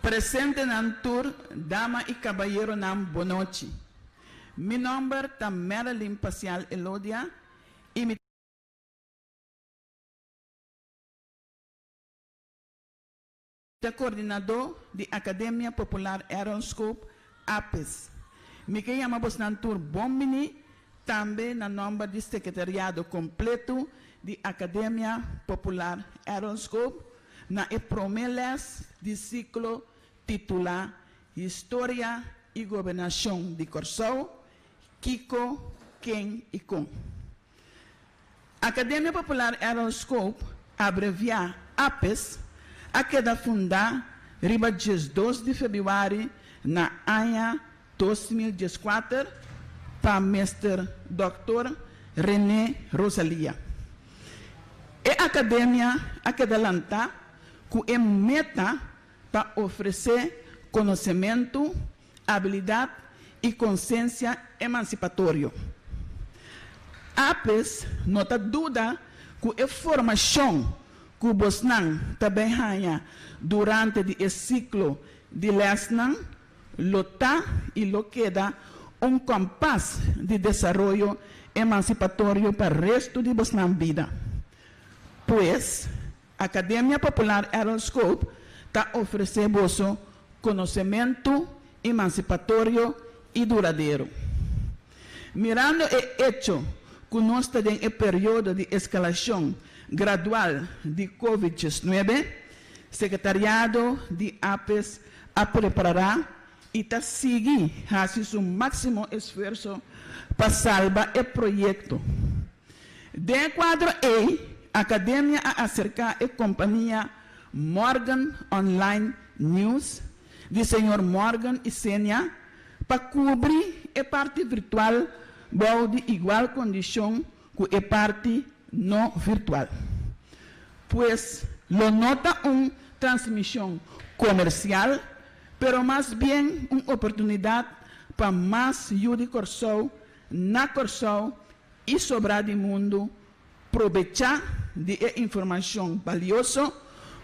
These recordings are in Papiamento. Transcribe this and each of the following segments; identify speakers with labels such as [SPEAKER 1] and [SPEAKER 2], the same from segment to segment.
[SPEAKER 1] Presentenan tur, dama i kabayeronan bonochi. Mi nòmber ta Marilyn Pasial Elodia i mi. Ta kordinadó di Akademia Popular Aaronscoop, APES. Mi ke yama bosnan tur bon biní Tambe na nòmber di sekretariado kompletu di Akademia Popular Aronskop na e promé lès di siklo titulá Historia i Gobernashon di Kòrsou, Kiko, Ken i Kon? Academia Popular Errol Scope, abreviá APES, a keda fundá riba diesdos di febiuari na aña dos mil dieskuater pa Mester Dòkter René Rosalia. E academia a keda lantá ku e meta pa ofresé konosementu abilidad y conciencia emancipatorio. Apes no ta duda cu e formacion cu bosnan ta bay haya durante di e ciclo di lesnan lo ta y lo keda un compas di desaroyo emancipatorio pa resto di bosnan bida. Pues. Academia Popular Errol Scope ta ofrece boso conocemento emancipatorio y duradero. Mirando e hecho cu nos ta den e periodo di escalacion gradual di covid diesnuebe, Secretariado di Apes a preparara y ta sigui haci su maximo esfuerso pa salba e proyecto. Den e kuadro ei, Akademia a aserká e kompania Morgan Online News di señor Morgan i Senia pa kubri e parti virtual bou di igual kondishon ku e parti no virtual. Pues, lo no ta un transmishon komersial, pero mas bien un oportunidat pa mas Yu di Kòrsou na Kòrsou i sobra di mundu probechá di e informashon balioso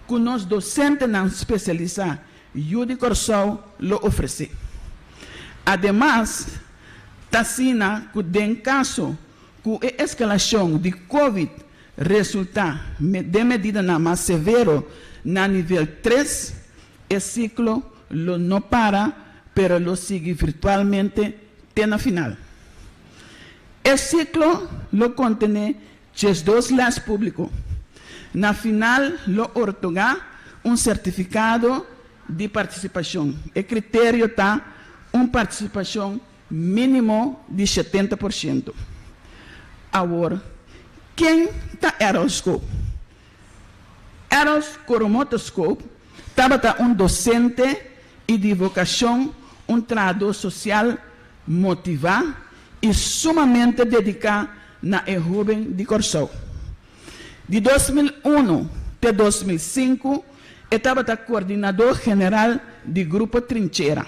[SPEAKER 1] ku nos dosentenan spesialisá yu di Kòrsou lo ofresé. Ademas, ta asina ku den kaso ku e eskalashon di Covid resultá den medidanan mas severo na nivel tres, e siklo lo no para pero lo sigui virtualmente te na final. E siklo lo kontené diesdos lès públiko. Na final lo ortogá un sertifikado di partisipashon. E kriterio ta un partisipashon mínimo di shetenta por shento. Awor, ken ta Errol School? Adolf Koromoteskop tabata un dosente i di vokashon un trahadó sosial motivá i sumamente dediká na e hóben di Kòrsou. Di dos mil unu te dos mil sinku e tabata koordinadó general di Grupo Trinchera.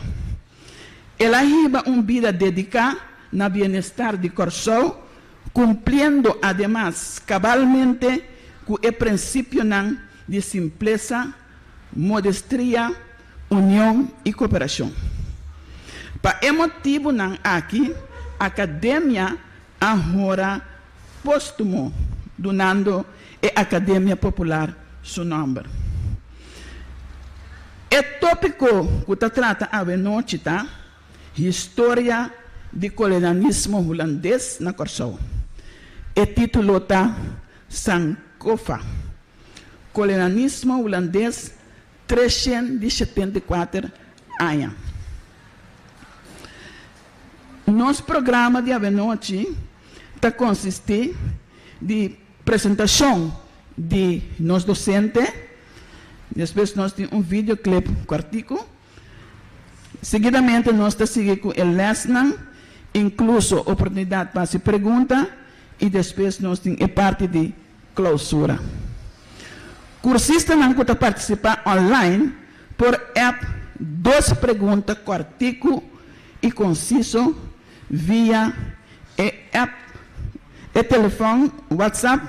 [SPEAKER 1] El a hiba un bida dediká na bienestar di Kòrsou cumpliendo ademas cabalmente cu e principionan di simplesa, modestria, union y cooperacion. Pa e motibonan aki, Academia a honra postumo dunando e Academia Popular su nomber. E topico cu ta trata awe nochi ta. Historia di Kolonialismo Hulandes na Kòrsou. E titulo ta Sankofa, Kolonialismo Hulandes treshent di shetenta i kuater aña. Nos programa di avenochi ta konsistí di presentashon di nos dosente, despues nos tin un videoclip kòrtiku Seguidamente nos ta sigui cu e lesnan, incluso oportunidad pa haci pregunta y despues nos tin e parti di clausura. Cursistanan cu ta participa online por app dos pregunta corticu y conciso via e app, e telefon, WhatsApp,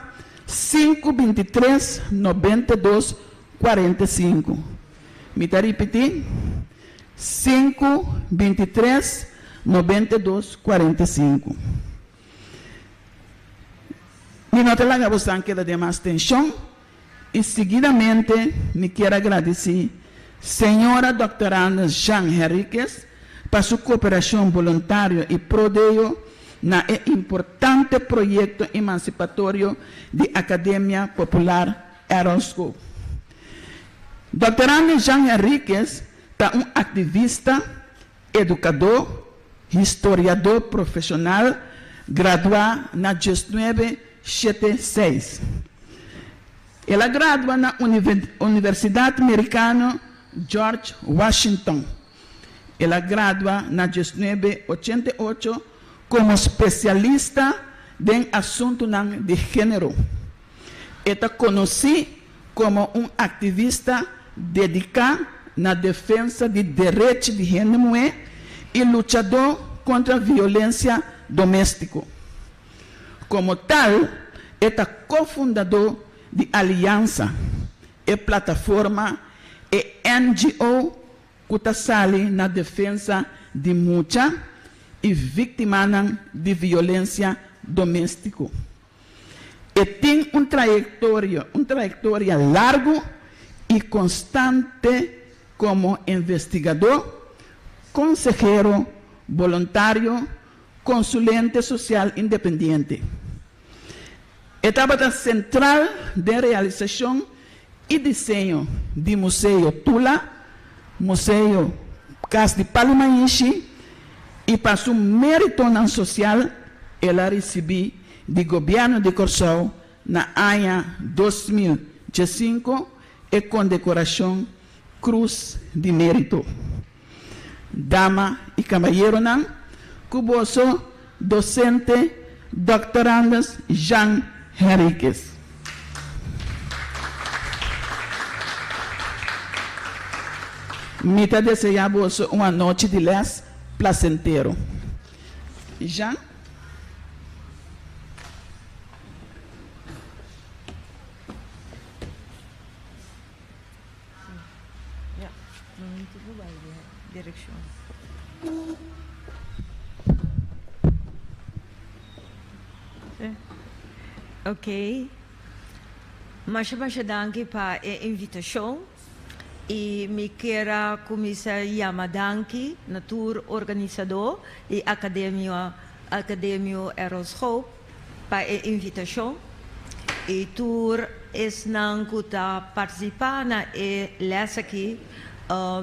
[SPEAKER 1] sinku binti tres, nobenta dos, cuarenta i sinku. Mi ta ripití, sinku, binti tres, nobenta i dos, kuarenta i sinku. Mi no ta laga bosan keda den mas tenshon, i siguidamente mi kier a gradisí señora Dòkter Anders Jean Henriquez pa su kooperashon boluntario i prodeyo na e importante proyekto emansipatorio di Akademia Popular Errol School. Dòkter Andy Jean Henriquez ta un aktivista, edukadó, historiadó profeshonal graduá na dies nuebe shete seis. El a gradua na Universidat Merikano George Washington. El a gradua na dies nuebe ochenta i ocho komo spesialista den asuntunan di género. E ta konosí Komo un aktivista dediká na defensa di derechi di hende muhé i luchadó kontra violensia doméstiko. Komo tal, e ta ko-fundadó di Aliansa, e plataforma, e NGO ku ta sali na defensa di mucha i víktimanan di violensia doméstiko. E tin un trayektorio, un trayektoria largu i konstante komo investigadó, konsehero, boluntario, konsulente sosial independiente. E tabata sentral den realisashon i diseño di Museo Tula, Museo Cas di Palo Mainshi i pa su meritonan sosial el a risibí di Gobièrnu di Kòrsou na aña dos mil diesinko e kondekorashon Krus di Mérito. Dama i kabayeronan, ku boso dosente doktorandes Jean Henriquez. Mi ta deseá boso un anochi di lès plasentero. Jean. Oke, masha masha danki pa e invitashon i mi kier a kuminsá yama danki na tur organisadó di Akademia Akademio Errol's Hope pa e invitashon i tur esnan ku ta partisipá na e lès aki,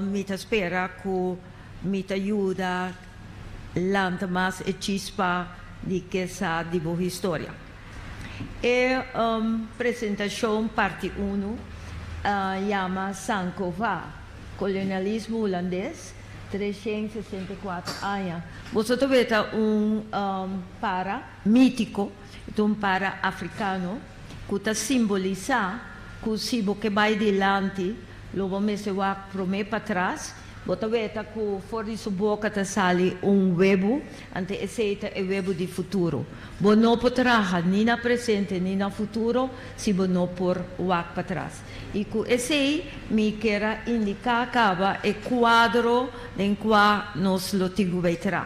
[SPEAKER 1] mi ta spera ku mi ta yuda lanta mas e chispa di ke sa di bo historia. E presentashon parti unu a yama Sankofa, Kolonialismo Hulandes. 364 aña. Boso ta wet ta un para mítiko, e ta un para afrikano ku ta simbolisá ku si bo ke bai dilanti lo bo mester wak promé pa tras. Bo ta wet ta ku for di su boka ta sali un webu, anto esei ta e webu di futuro. Bo no por traha ni na presente ni na futuro si bo no por wak pa tras. I ku esei mi kier a indiká kaba e kuadro den kua nos lo tin ku bai tra.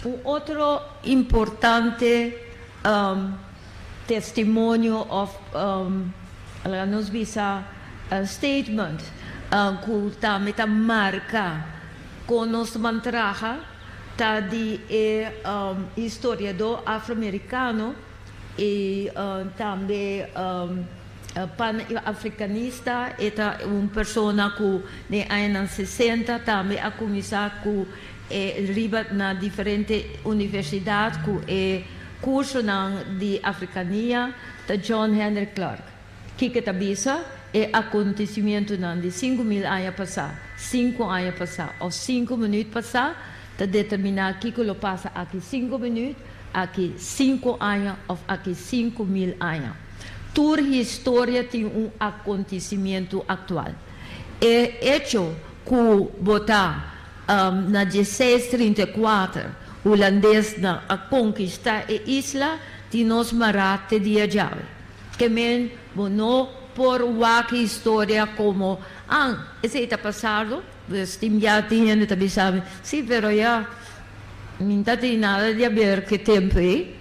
[SPEAKER 1] Un otro importante testimonio òf laga nos bisa statement ku tambe ta marka kon nos ta ban traha ta di e historiadó afroamerikano i tambe. Pa Afrikanista e ta un persona ku den añanan sesenta tambe a kuminsá ku e riba na diferente universidat ku e kursonan di afrikania ta John Henrik Clarke. Kiko e ta bisa? E akontesimentunan di sinku mil aña pasá, sinku aña pasá òf sinku minüt pasá Ta determiná kiko lo pasa aki sinku minüt, aki sinku aña òf aki sinku mil aña. Tur historia tin un akontisimentu aktual. E echo ku bo ta na dieseis trinta i kuater hulandesnan a konkistá e isla tin nos mará te dia djawe. Ke men bo no por wak historia komo, An, esei ta pasardo? Pues tin ya tin hende ta bisa mi, si pero ya mi ta tin nada di haber cu e templo ey,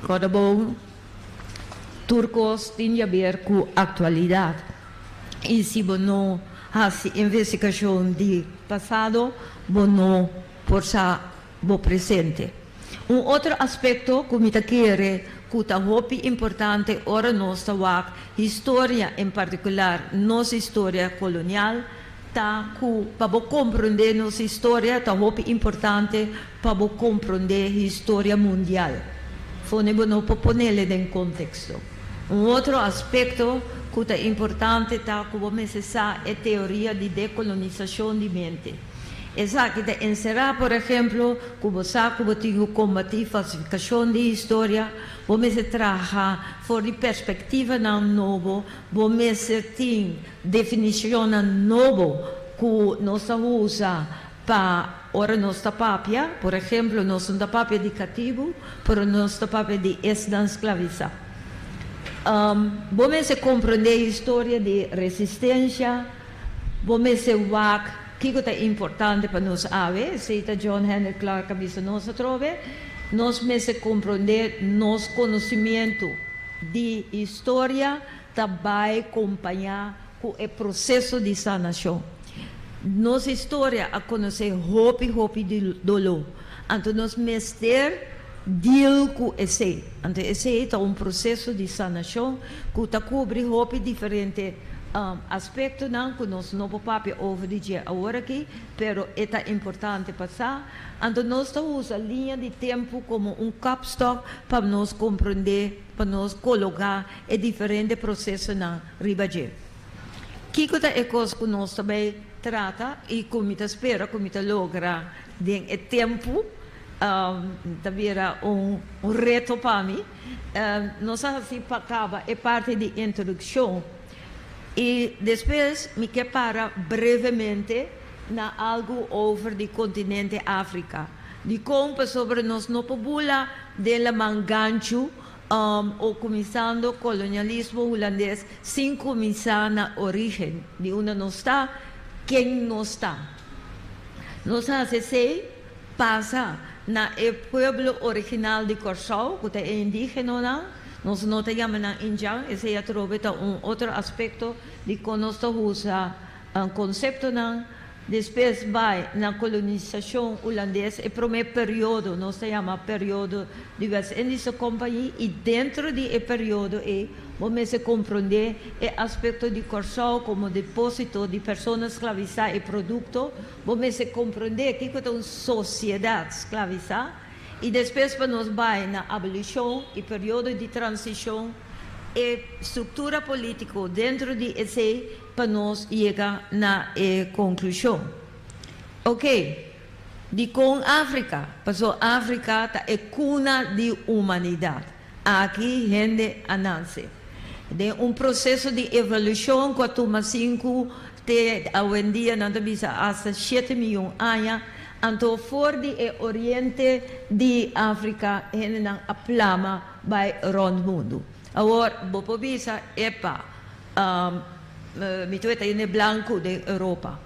[SPEAKER 1] cuando bon tur cos tin di haber cu actualidad y si bo no haci investigacion di pasado bo no por sa. bo presente. Un otro aspekto ku mi ta kere ku ta hopi importante ora nos ta wak historia, en partikular nos historia kolonial, ta ku pa bo komprondé nos historia ta hopi importante pa bo komprondé historia mundial. Fone bo no por ponele den konteksto. Un otro aspekto ku ta importante ta ku bo mester sa e teoria di dekolonizashon di mente. Esaki ta enserá, por ehemplo, ku bo sa ku bo tin ku kombatí falsifikashon di historia, bo mester traha for di perspektivanan nobo, bo mester tin definishonnan nobo ku nos ta usa pa ora nos ta papia. Por ehemplo, nos no ta papia di katibu, pero nos ta papia di esnan sklavisá. Bo mester komprendé historia di resistensha. Bo mester wak kiko ta importante pa nos awe. Esei ta John Henrik Clarke a bisa nos atrobe. Nos mester komprondé nos konosimiento di historia ta bai kompañá ku e proseso di sanashon. Nos historia a konosé hopi hopi di doló. Anto nos mester deal ku esei. Anto esei ta un proseso di sanashon ku ta kubri hopi diferente aspektonan ku nos no por papia over di dje awor aki, pero e ta importante pa sa. Anto nos ta usa liña di tempu komo un kapstòk pa nos komprondé, pa nos kologá e diferente prosesonan riba dje. Kiko ta e kos ku nos ta bai trata i ku mi ta spera ku mi ta logra? Den e tempu ta bira un reto pa mi. Nos a hasi pa kaba e parti di introdukshon i despues mi ke para brevemente na algu over di kontinente Afrika, di kon pasobra nos no por bula den laman ganchu o kuminsando kolonialismo hulandes sin kuminsá na origen di unda nos ta, ken nos ta. Nos hasi esei pasa na e pueblo original di Kòrsou, ku ta e indígenonan. Nos no ta yama nan Indian, esei atrobe ta un otro aspekto di kon nos ta usa konseptonan. Despues bai na kolonisashon ulandes, e promé periodo nos ta yama periodo di West Indische Compagnie, i dentro di e periodo ei, Bo mester komprondé e aspekto di Kòrsou komo deposito di persona sklavisá i produkto. Bo mester komprondé kiko ta un sosiedat sklavisá. I despues pa nos bai na abolishon i periodo di transishon, e struktura polítiko dentro di esei pa nos yega na e konklushon. Oke, dikon Afrika? Pasó Afrika ta e kuna di humanidat. Aki hende a nanse den un proseso di evolushon ku a tuma sinku te awendia nan ta bisa asta shete miyon aña. Anto for di e oriente di Afrika hendenan a plama bai rònt mundu. Awor bo por bisa, epa, mi ta weta hende blanku den Europa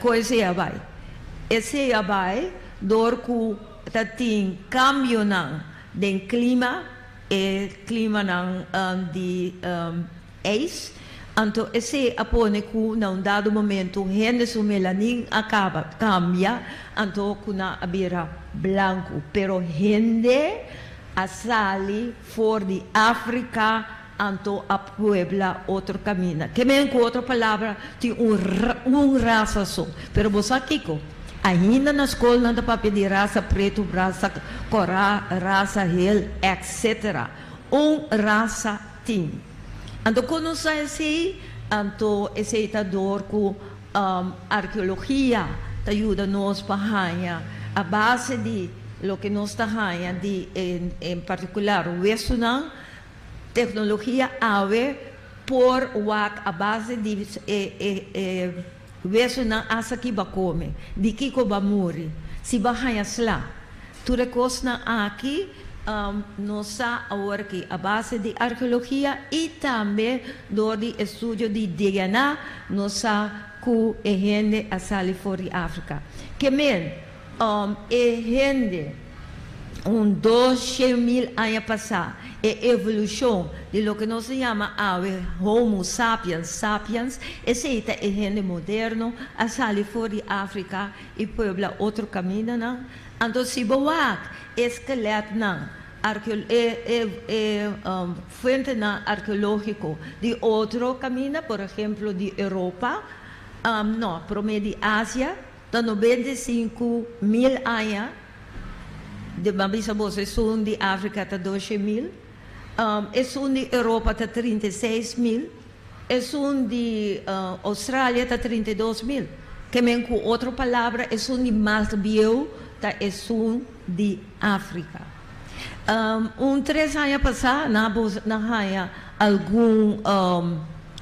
[SPEAKER 1] kon esei a bai. Esei a bai dor ku ta tin kambionan Den klima, e klimanan di ijs, anto esei a pone ku na un dado momentu hende su melanin a kaba, kambia, anto ku nan a bira blanku. Pero hende a sali for di Afrika. Anto a puebla otro camina. Ke men cu otro palabra tin un un rasa so. Pero bo sa kico? Ainda na scol nan ta papia di rasa preto, rasa cora, rasa hel, etc. Un rasa tin. Anto cu nos sa esey? Anto esey ta door cu archeologia ta yuda nos pa haña a base di loke nos ta haña di en particular westonan. Tecnologia awe por wak a base di e wesunan asa ki ba come, di kico ba muri, si ba haya sla. Tur e cosnan aki nos sa awor ki a base di arheologia y tambe door di estudio di DNA nos sa cu e hende a sali for di Africa. Ke men? E hende un dos shen mil aña pasá, e evolushon di loke nos ta yama awe Homo sapiens sapiens, esei ta e hende moderno, a sali for di Afrika i puebla otro kamindanan. Anto si bo wak e skeletnan, e fuentenan arkeológiko di otro kaminda, por ehemplo di Europa, nò, promé di Asia, Ta noventa i sinku mil aña di m'a bisa boso esun di Africa ta doshe mil, esun di Europa ta trinta i seis mil, esun di Australia ta trinta i dos mil. Ke men ku otro palabra esun di mas bieu ta esun di Africa. Un tres aña pasá nan bo nan haña algun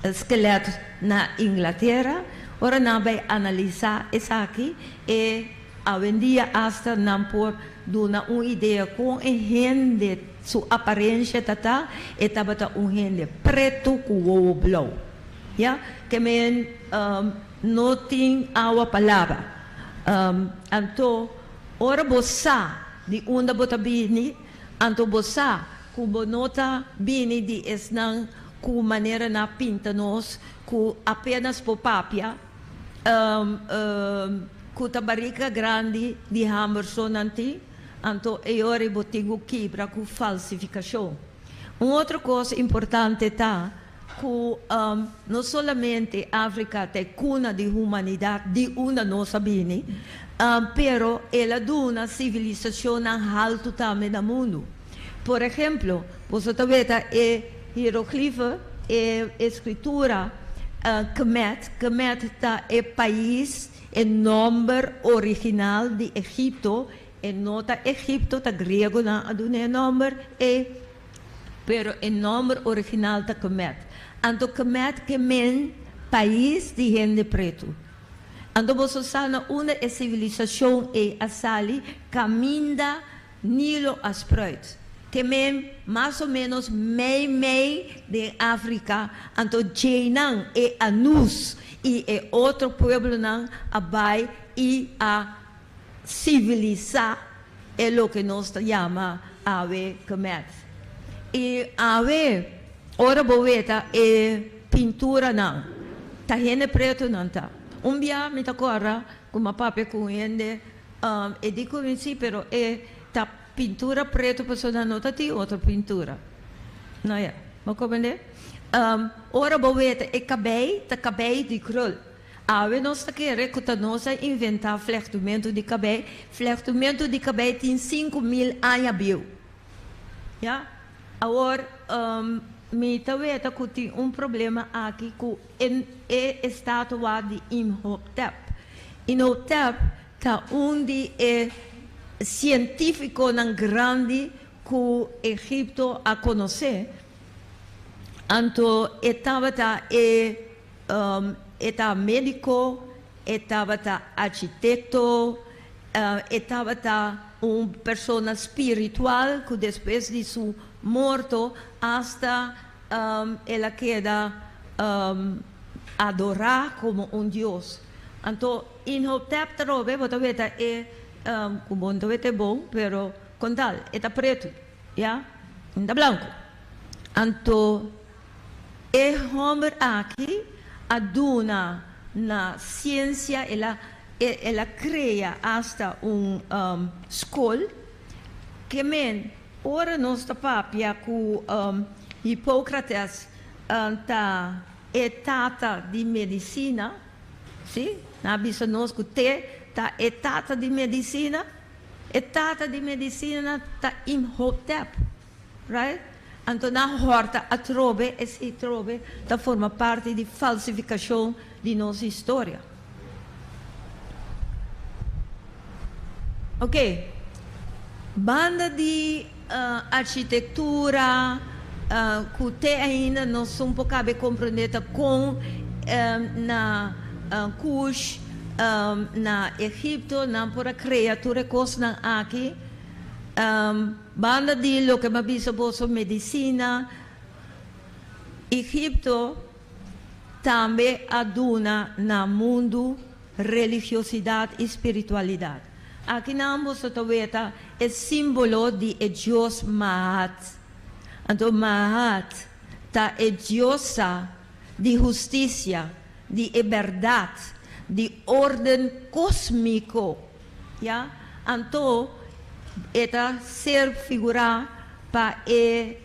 [SPEAKER 1] skelèt na Inglatera. Ora nan bai analisá esaki e awendia asta nan por duna un idea kon e hende su aparensia tatá. E tabata un hende pretu ku wowo blou. Ya ke men no tin awa palabra. Anto. Ora bo sa di unda bo ta bini, anto bo sa ku bo no ta bini di esnan ku manera nan a pinta nos ku apenas por papia, ku ta barika grandi di hamber so nan tin, anto e yori bo tin ku kibra ku falsifikashon. Un otro kos importante ta. Ku no solamente Afrika ta e kuna di humanidat di unda nos a bini, pero el a duna sivilisashonnan haltu tambe na mundu. Por ehemplo, boso ta weta e hieroglife, e eskritura Kemet. Kemet ta e pais, e nòmber original di Egipto. E no ta Egipto, ta griegonan a duna e nòmber. E Pero e nomber original ta Kemet. Anto Kemet ke men pais di hende pretu. Anto boso sa na unda e sivilisashon ei a sali kaminda Nilo a spruit. Ke men mas o menos mei mei den Afrika. Anto djeinan, e Anus i e otro pueblonan a bai i a. sivilisá e loke nos ta yama awe kemèt. I awe ora bo weta e pinturanan, ta hende pretu nan ta. Un bia mi ta kòrda ku mi a papia ku un hende, e di ku mi sí, pero e ta pintura pretu pasobra no ta tin otro pintura. No, ya. Bo comprendé? Ora bo weta e kabei ta kabei di krul. Awe nos ta kere ku ta nos a inventá flechtumentu di kabei. Flechtumentu di kabei tin sinku mil aña bieu. Ya. Awor, mi ta weta ku tin un problema aki ku e e estatua di Imhotep. Inhotep ta un di e sientífikonan grandi ku Egipto a konosé. Anto e tabata e. E ta médiko, e tabata architekto, e tabata un persona spiritual ku despues di su morto asta el a keda adorá komo un dios. Anto Inhotep ta rob'é? Bo ta weta e, ku bo no ta wet'é bo, pero kontal, e ta pretu, ya? E no ta blanku. Anto. E homber aki a duna na ciencia, el a el a crea hasta un scol, ke men ora nos ta papia cu Hippocrates ta e tata di medicina, si, nan a bisa nos cu te ta e tata di medicina, e tata di medicina ta Imhotep. Right? Anto nan horta atrobe, esei trobe ta forma parti di falsifikashon di nos historia. Ok, banda di arshitektura ku te ainda nos un por kabe komprende ta kon na Kush, na Egipto nan por a krea tur e kosnan aki. Banda di loke mi a bisa boso medicina, Egipto tambe a duna na mundu religiosidad y spiritualidad. Akinan boso ta weta e simbolo di e dios Maat. Anto Maat ta e diosa di husticia, di e berdad, di orden cosmico. Ya, anto e ta ser figurá pa e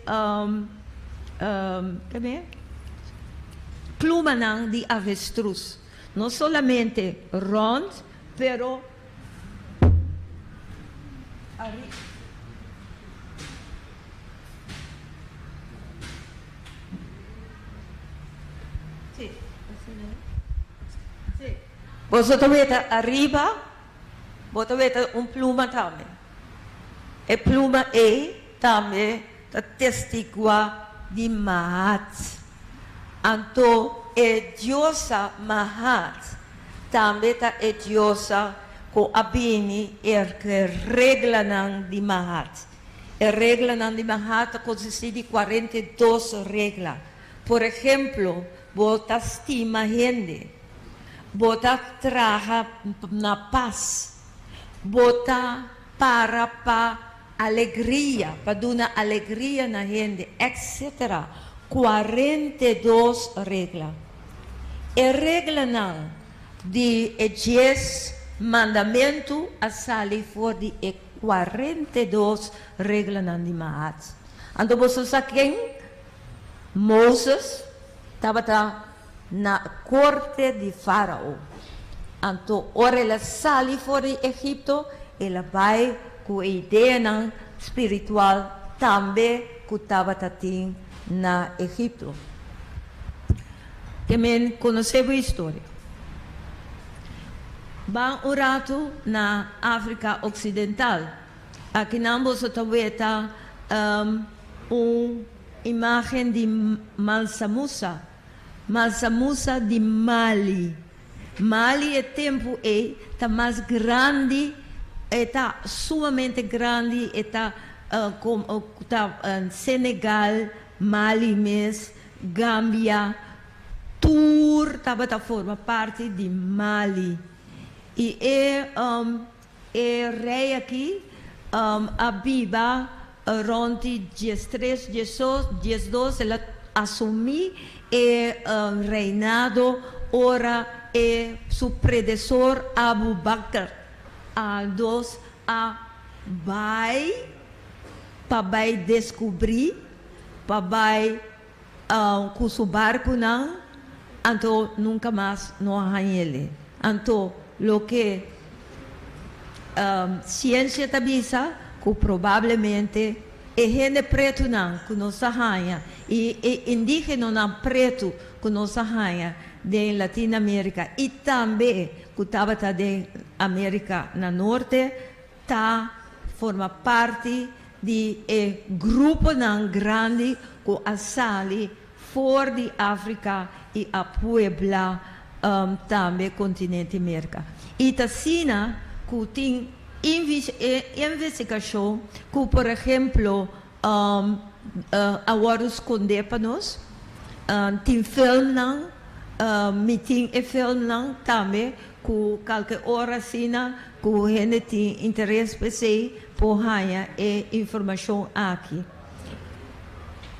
[SPEAKER 1] plumanan di avestrus, no solamente rònt, pero ariba. Boso ta weta ariba bo ta weta un pluma tambe. E pluma ei tambe ta testiguá di Mahat. Anto e diosa Mahat tambe ta e diosa ku a bini erk'e reglanan di Mahat. E reglanan di Mahat ta konsistí di kuarenta i dos regla. Por ehemplo, bo ta stima hende. Bo ta traha na pas. Bo ta para pa alegria, pa duna alegria na hende, etcetera Kua rente dos regla. E reglanan di e dies mandamentu a sali for di e kua rente dos reglanan di Maat. Anto boso sa ken Moses tabata? na corte di Farao. Anto ora el a sali for di Egipto, el a bai cu e ideanan spiritual tambe cu tabata tin na Egipto. Te men conoce bo historia. Ban un ratu na Africa Occidental. Akinan boso ta weta un. Imagen di Malsa Musa. Malsa Musa di Mali. Mali e tempu ei ta mas grandi, e ta sumamente grandi, e ta ta Senegal, Mali mes, Gambia, tur tabata forma parti di Mali. I e. E rei aki a biba rond di dies tres, dies dos, el a asumí e reinado ora e su predesor Abu Bakr aldos a bai pa bai descubrí, pa bai ku su barkunan, anto nunka mas no a hañ'el'e. Anto loke siensia ta bisa, ku probablemente e hende pretunan ku nos a haña i e indígenonan pretu ku nos a haña den Latin Amérika i tambe ku tabata den Amérika na Norte ta forma parti di e gruponan grandi ku a sali for di Afrika i a puebla tambe kontinente Merka. I ta asina ku tin investigashon ku por ehemplo a wòrdu skondé pa nos, tin filmnan, mi tin e filmnan tambe ku kalke ora asina ku hende tin interes p'esei. Por haña e informashon aki.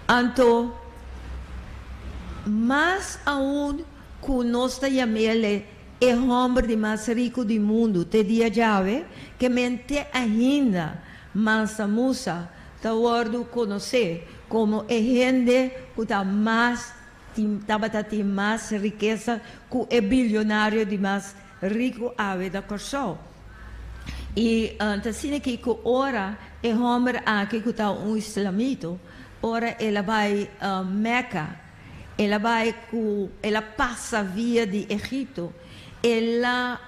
[SPEAKER 1] Anto, mas aun ku nos ta yam'el e hòmber di mas riku di mundu te dia djawe, ke men te ainda mansa musa ta wòrdu konosé komo e hende ku ta mas tin tabata tin mas rikesa ku e bilionario di mas Rico Awe da Corsou. I ta asina aki cu ora e homber aki cu ta un islamito, ora el a bai Mecca, el a bai cu, el a pasa via di Egipto, el a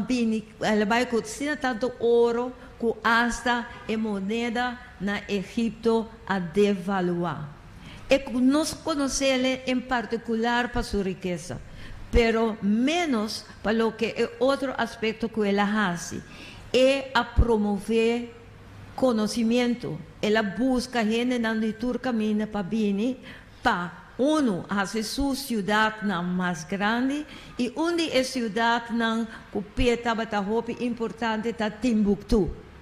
[SPEAKER 1] bini, el a bai cu asina tanto oro cu hasta e moneda na Egipto a devalua. E cu nos conoceLe en particular pa su rikesa, pero menos pa loke e otro aspecto cu El a haci. E a promove conocimiento, El a busca hendenan di tur caminda pa bini pa, unu, haci Su ciudadnan mas grandi, y un di e ciudadnan cu p'E tabata hopi importante ta Timbuktu.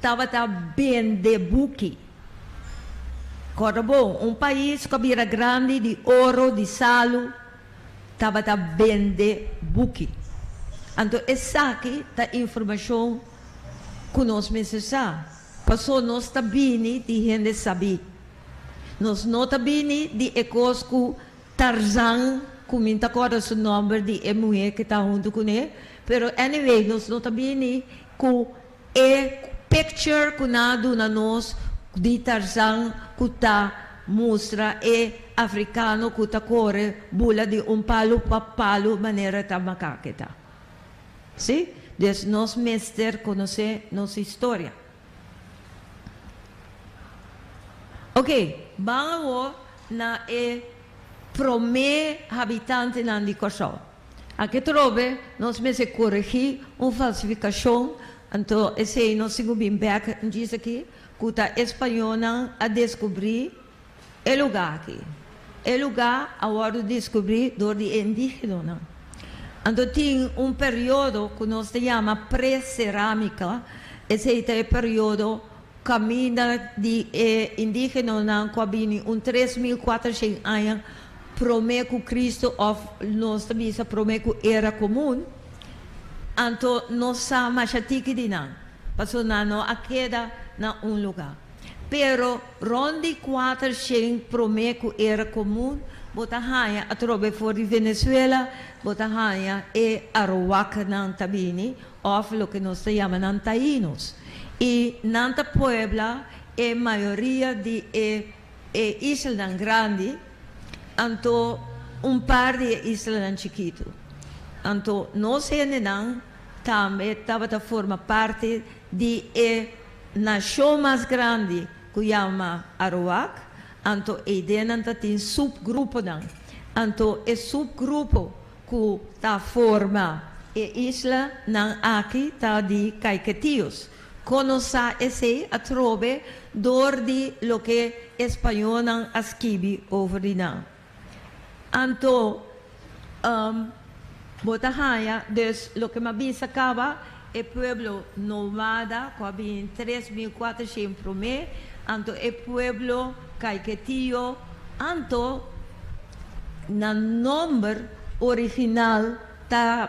[SPEAKER 1] Tabata bende buki. Kòrda bo, un pais ku a bira grandi di oro, di salu, tabata bende buki. Anto esaki ta informashon ku nos mester sa, paso nos ta bini di hende sabí. Nos no ta bini di e kos ku Tarzan, ku mi ta kòrda su nòmber di e muhé ku ta huntu kuné, pero anyway nos no ta bini ku. E picture cu nan a duna nos di Tarzan cu ta mustra e Africano cu ta core bula di un palu pa palu manera ta makake ta. Si? Des nos mester conoce nos historia. Ok, ban awor na e prome habitantenan di Corsou. Aki trobe nos mester koregi un falsifikashon, anto esei nos tin ku bin bèk djis aki ku ta e spañolnan a deskubrí e lugá aki. E lugá a wòrdu deskubrí dor di e indígenonan. Anto tin un periodo ku nos ta yama pre-serámika, esei ta e periodo kaminda di e indígenonan ku a bini un tres mil kuatrushen aña prome ku Kristu òf nos ta bisa prome ku era komun, anto no sa masha tiki di nan, pasobra nan no a keda na un lugá. Pero rònt di kuater shen prome ku era komun bo ta haña atrobe for di Venezuela, bo ta haña e Arawaknan ta bini, òf loke nos ta yama nan Tainos. I nan ta puebla e mayoria di e. E islanan grandi, anto un par di e islanan chikitu. Anto nos hendenan tambe tabata forma parti di e nashon mas grandi ku yama Aruwak, anto eidenan ta tin supgruponan. Anto e supgrupo ku ta forma e isla nan aki ta di Kaiketios. Cono sa esey a trobe door di loke Españonan a skibi over di nan. Anto um bo ta haya dus loke m'a bisa caba e pueblo nomada cu a bin tres mil cuatrocientos prome, anto e pueblo Caiquetío, anto na nomber original ta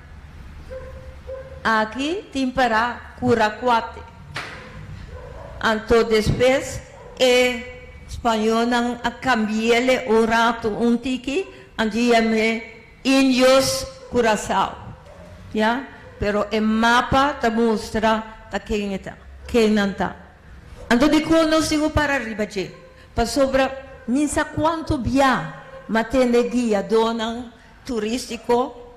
[SPEAKER 1] Aki tin para cura cuate. Anto despues e Spañonan a cambiele un rato un tiki, anto yam'e Indios Curacao, ya, pero e mapa ta mustra ta ken e ta, ken nan ta. Anto dikor nos tin ku para riba dje, pasobra mi sa kuanto bia, ma tende guiadónan Turístiko,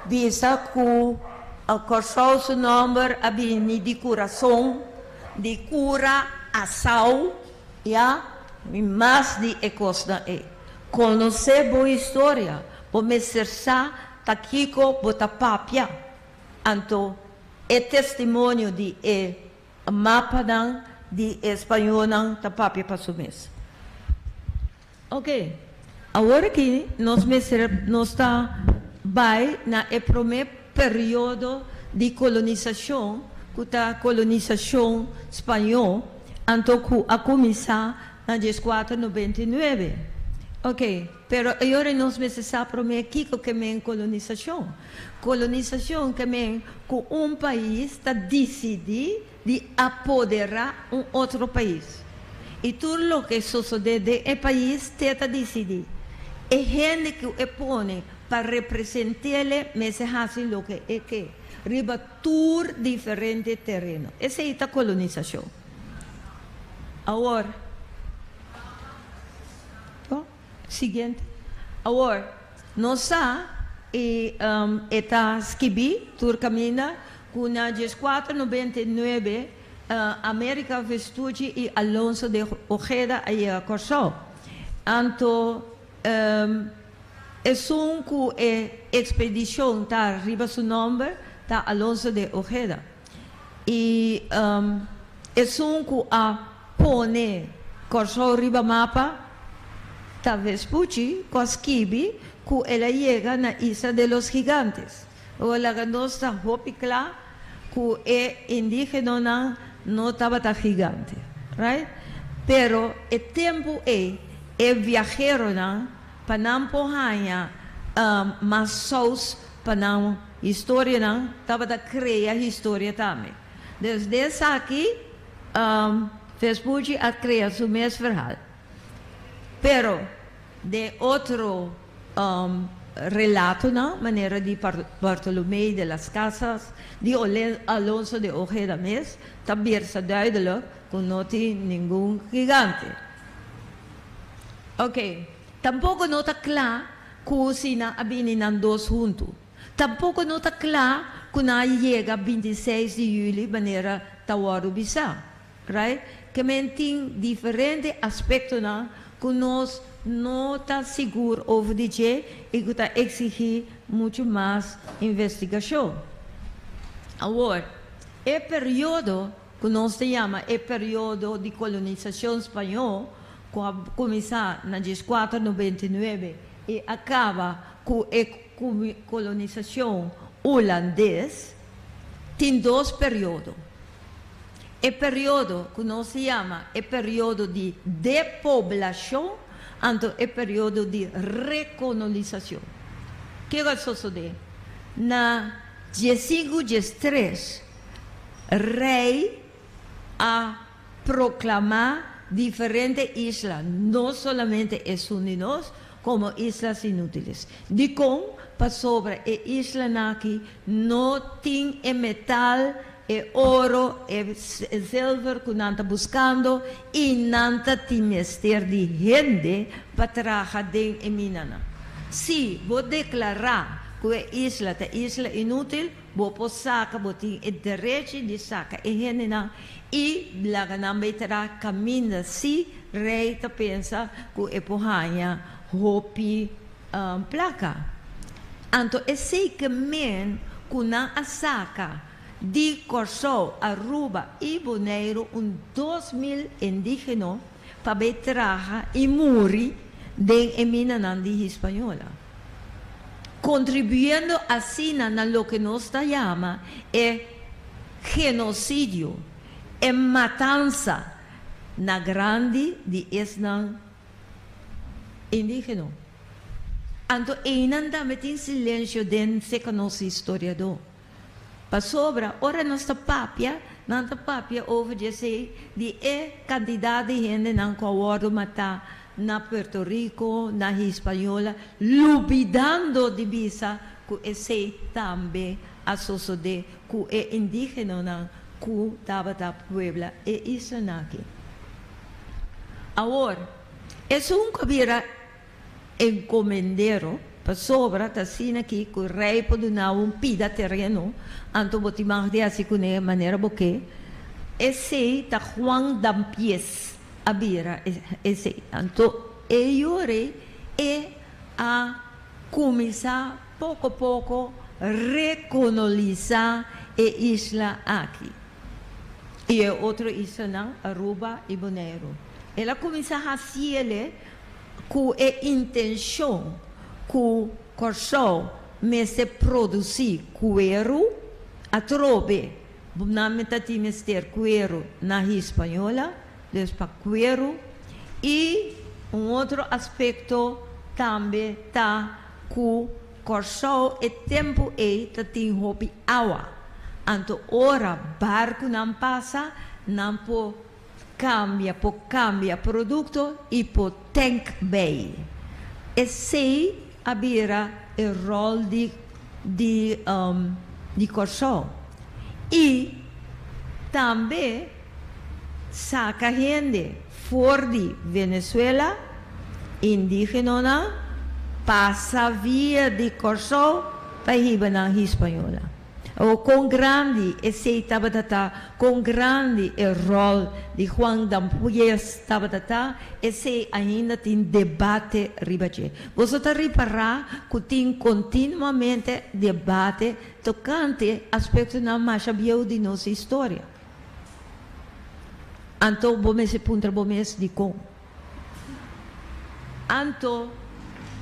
[SPEAKER 1] Bin sa ku a Kòrsou su nòmber a bini di kurason, di kura asau, ya, i mas di e kosnan ei. Konosé bo historia, bo mester sa ta kiko bo ta papia. Anto e testimonio di e mapanan di e spañolnan ta papia pa su mes. Oke, awor aki nos mester nos ta bai na e promé periodo di kolonisashon, ku ta kolonisashon spañó, anto ku a kuminsá na dies kuater nobenta i nuebe. Oke, pero e yora nos mester sa promé kiko ke men kolonisashon. Kolonisashon ke men ku un pais ta disidí. di apoderá un otro pais i tur loke sosodé den e pais te ta disidí. E hende ku e pone pa represent'el'e mester hasi loke e ke riba tur diferente tereno. Esei ta kolonisashon. Awor. Siguiente. Awor, nos sa i e ta skibí tur kaminda ku na dies kuater noventa i nuebe Amérika Vestuchi i Alonso de Ojeda a yega Kòrsou. Anto esun ku e ekspedishon ta riba su nòmber ta Alonso de Ojeda. I esun ku a pone Kòrsou riba mapa ta Vespucci ku a skibi ku el a yega na Isla de los Gigantes. Ora laga nos ta hopi kla ku e indígenonan no tabata gigante, right? Pero e tempu ei e viaheronan pa nan por haña mas sous pa nan. Historianan tabata crea historia tambe. Dus den esaki Vespucci a crea su mes verhaal, pero den otro relatonan, manera di Bartolomé de las Casas, di Alonso de Ojeda mes, ta birsa duidelijk cu no tin ningun gigante. Oke, tampoco no ta cla. Ku si nan a bini nan dos huntu. Tampoko no ta kla ku nan a yega binti i seis di yuli manera ta wòrdu bisá. Right? Kèmen tin diferente aspektonan ku nos no ta sigur over di dje i ku ta eksigí muchu mas investigashon. Awor, e periodo ku nos ta yama e periodo di kolonisashon spañó ku a kuminsá na dies kuater nobenta i nuebe i a kaba ku e kolonisashon ulandes, tin dos periodo. E periodo ku nos ta yama e periodo di depoblashon anto e periodo di rekonolisashon. Ke lo a sosodé? Na dies sinku, dies tres Rey a proclamá diferente isla, no solamente e sun di nos, como islas inútiles. Dicon? Pasobra e islanan aki no tin e metal, e oro, e zilver cu nan ta buscando y nan ta tin mester di hende pa traha den e minanan. Si bo declará cu e isla ta isla inútil, Bo por saca, bo tin e derechi di saca e hendenan y laga nan bay traha caminda si Rey ta pensa cu e por haya hopi placa. Anto esey ke men cu nan a saca di Corsou, Aruba y Boneiru un dos mil indigeno, pa bay traha y muri den e minanan di Hispañola, contribuyendo asina na loke nos ta yama e genocidio, e matansa na grandi di esnan indigeno. Anto eynan tambe tin silencio den se conoci historiador. Pasobra ora nos ta papia, nan ta papia over di esei, di e kantidat di hendenan ku a wòrdu matá na Puerto Riko, na Hispaniola, lubidando di bisa ku esei tambe a sosodé ku e indígenonan ku tabata puebla e islanan aki. Awor, esun ku a bira. encomendero, pasobra ta asina ki cu rey por dunabo un pida tereno, anto bo tin mag di haci cune manera bo ke. Esey ta Juan Dampies a bira esey. Anto e yure e a cuminsa poco poco reconoliza e isla aki y e otro islanan Aruba y Boneiru. El a cuminsa haci el'e. ku e intenshon ku Kòrsou mester produsí kueru atrobe nan mi ta tin mester kueru na Hispanyola, dus pa kueru. I un otro aspekto tambe ta ku Kòrsou e tempu ei ta tin hopi awa, anto ora barkunan pasa nan por Cambia por cambia producto y por tank bay. Esey a bira e rol di di di Corsou. Y tambe saca hende for di Venezuela, indigenonan, pasa via di Corsou pa hiba nan Hispaniola. O kon grandi esei tabata ta, kon grandi e ròl di Juan Dampues tabata ta, esei ainda tin debate riba dje. Boso ta ripará ku tin kontinuamente debate tokante aspektonan masha bieu di nos historia. Anto bo mester puntra bo mes dikon? Anto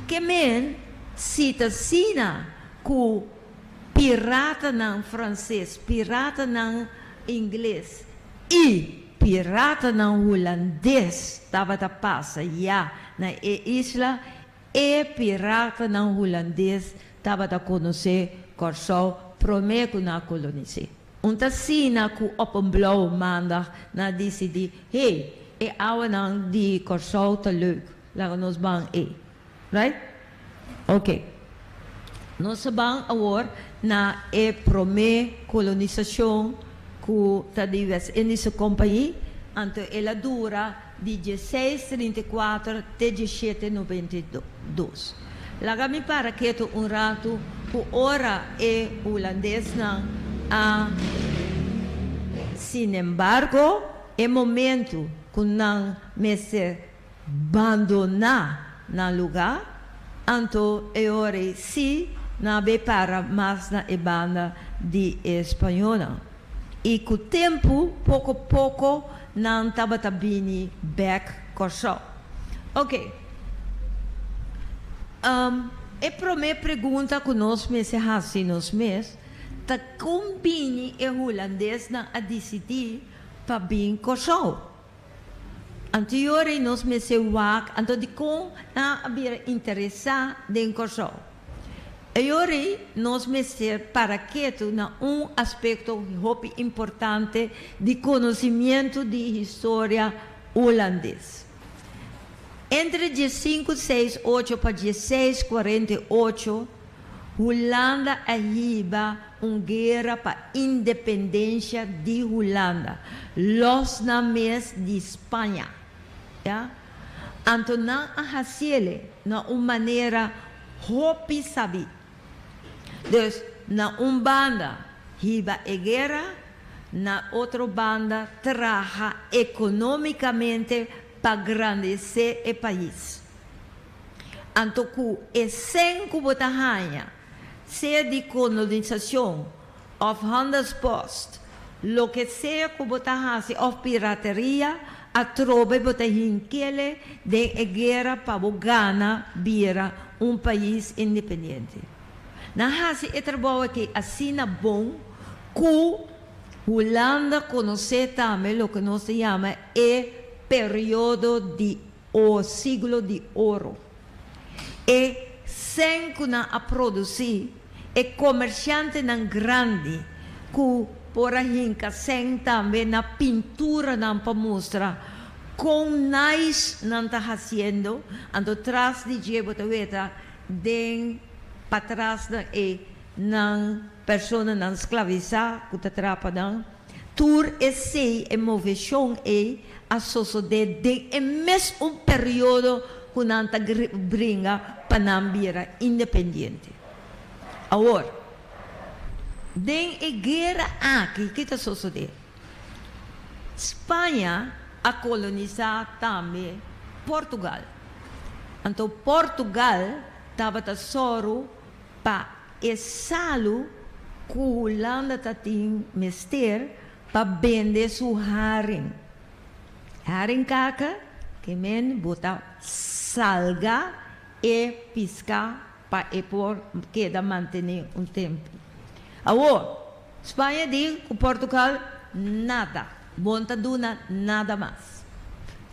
[SPEAKER 1] ke men si ta asina ku. piratanan franses, piratanan ingles i piratanan hulandes tabata pasa ya na e isla. E piratanan hulandes tabata konosé Kòrsou promé ku nan a kolonis'é. Un ta asina ku Oppenblow Maandag nan a disidí, Hei, e awanan di Kòrsou ta leuk, laga nos ban ei. Right? Ok. Nos a ban awor na e promé kolonisacion cu ta di West Indische Compagnie, anto el a dura di dieseis trinta i kuater te diesiete nobenta i dos. Laga mi para keto un ratu cu ora e Hulandesnan a. Sinembargo, e momento cu nan mester bandoná nan lugá, anto e ora ei sí nan a be para mas na e banda di e spañónan. I ku tempu, poko poko nan tabata bini bèk Kòrsou. Oke, e promé pregunta ku nos mester hasi nos mes ta kon bini e hulandes nan a disidí pa bin Kòrsou? Anto yor ei nos mester wak anto dikon nan a bira interesá den Kòrsou. E yor ei nos mester para ketu na un aspekto hopi importante di konosimientu di historia hulandes. Entre dies sinku seis ocho pa dies seis kuarenta i ocho Hulanda a hiba un guera pa independensia di Hulanda, los nan mes di Spaña. Ya. Anto nan a hasiele na un manera hopi sabí. Dus, na un banda hiba e guera, na otro banda traha economicamente pa grandecé e pais. Anto ku e sèn ku bo ta haña, sea di kolonisason òf handelspost, loke sea ku bo ta hasi òf pirateria, atrobe bo ta hinkele den e guera pa bo gana bira un pais independiente. Nan hasi e trabou akí asina bon ku Hulanda konosé tambe loke nos ta yama e periodo di. O Siglo di Oro. E sèn ku nan a produsí, e komershantenan grandi ku por a hinka sèn tambe na pinturanan pa mustra kon nice nan ta hasiendo, anto tras di dje bo ta weta den patras nan e nan personanan sklavisá ku ta trapa nan. Tur esei e moveshon ei a sosodé den e mes un periodo ku nan ta bringa pa nan bira independiente. Awor, den e guera aki ki ta sosodé? Spaña a kolonisá tambe Portugal. Anto Portugal tabata sòru pa e salu ku Hulanda ta tin mester pa bende su haring. Haringkaka, ke men bo ta salga e piska pa e por keda mantené un tempu. Awor, Spaña di ku Portugal, nada, bon ta duna nada mas.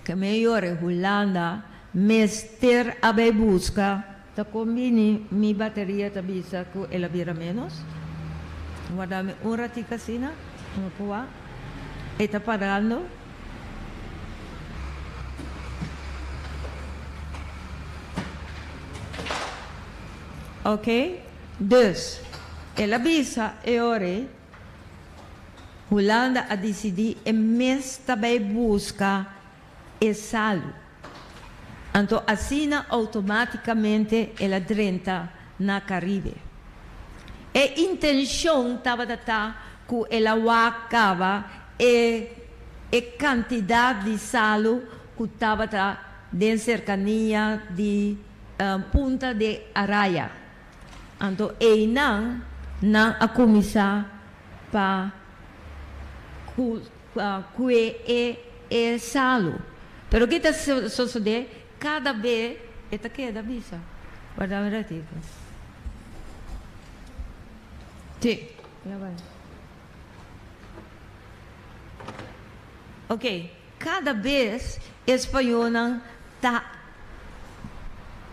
[SPEAKER 1] Ke men yore Hulanda mester a bai buska. Ta kon bini mi bateria ta bisa ku el a bira ménos? Warda mi un ratiku asina, no kua e ta parando. Ok, dus el a bisa e ora ei, Hulanda a disidí e mes ta bai buska e salu, anto asina outomátikamente el a drenta na Karibe. E intenshon tabata ta ku el a wak kaba e e kantidat di salu ku tabata den serkania di Punta de Araya, anto einan nan a kuminsá pa ku. kue e e salu. Pero ki ta sosode kada be e ta keda bisa. Guarda un ratico. Si, na bai. Ok, kada bes e spañonan ta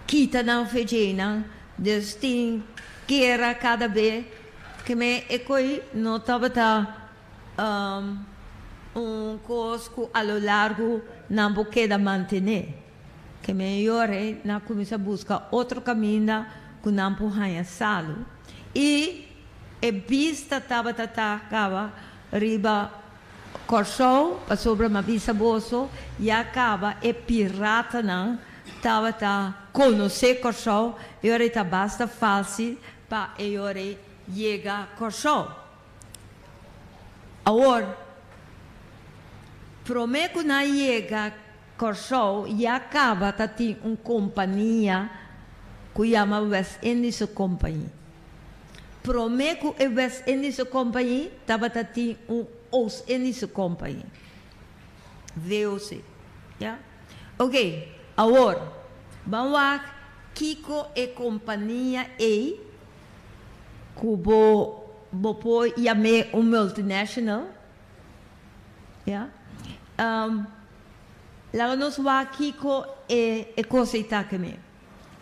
[SPEAKER 1] kita nan fejenan dus tin kera kada be ke men e koi no tabata. Un cos cu a lo largo nan bo keda mantene. Ke meyore ei nan a cuminsa busca otro caminda cu nan por haya salu. Y e bista tabata ta caba riba Corsou pasobra mi a bisa boso ya caba e piratanan tabata conoce Corsou y ora ei ta basta facil pa eyorei yega Corsou. Awor, prome cu nan a yega Corsou ya caba ta tin un compania cu yama West Indische Compagnie. Prome cu e West Indische Compagnie tabata tin un Oost Indische Compagnie, VOC. Ya? Ok, awor, ban wak kico e compania ey ku bo bo por yam'é un multinational, ya. Laga nos wak kiko e e kos ei ta kem'é.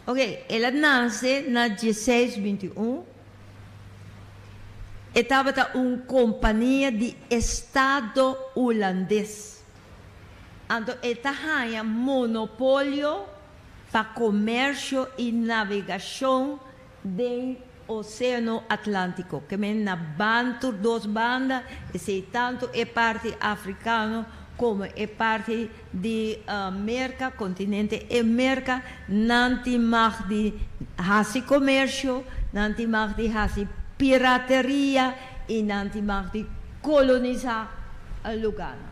[SPEAKER 1] Oke, el a nase na dieseis binti i un, e tabata un kompania di estado hulandes, anto e ta haña monopolio pa komèrsio i navegashon den Oseano Atlántiko, kemen na ban tur dos banda, esei tantu e parti afrikano komo e parti di Merka, kontinente e Merka, nan tin mag di hasi komersio, nan tin mag di hasi pirateria i nan tin mag di kolonisá lugarnan.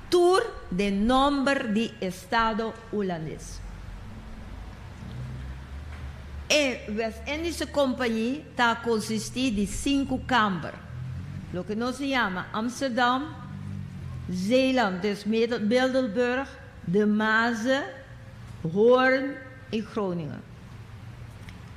[SPEAKER 1] Tur de nomber di estado Hulandes. E West Indische Compagnie ta consisti di sinku kamber, loke nos a yama Amsterdam, Zeeland, dus Middelburg, De Maze, Hoorn i Groningen.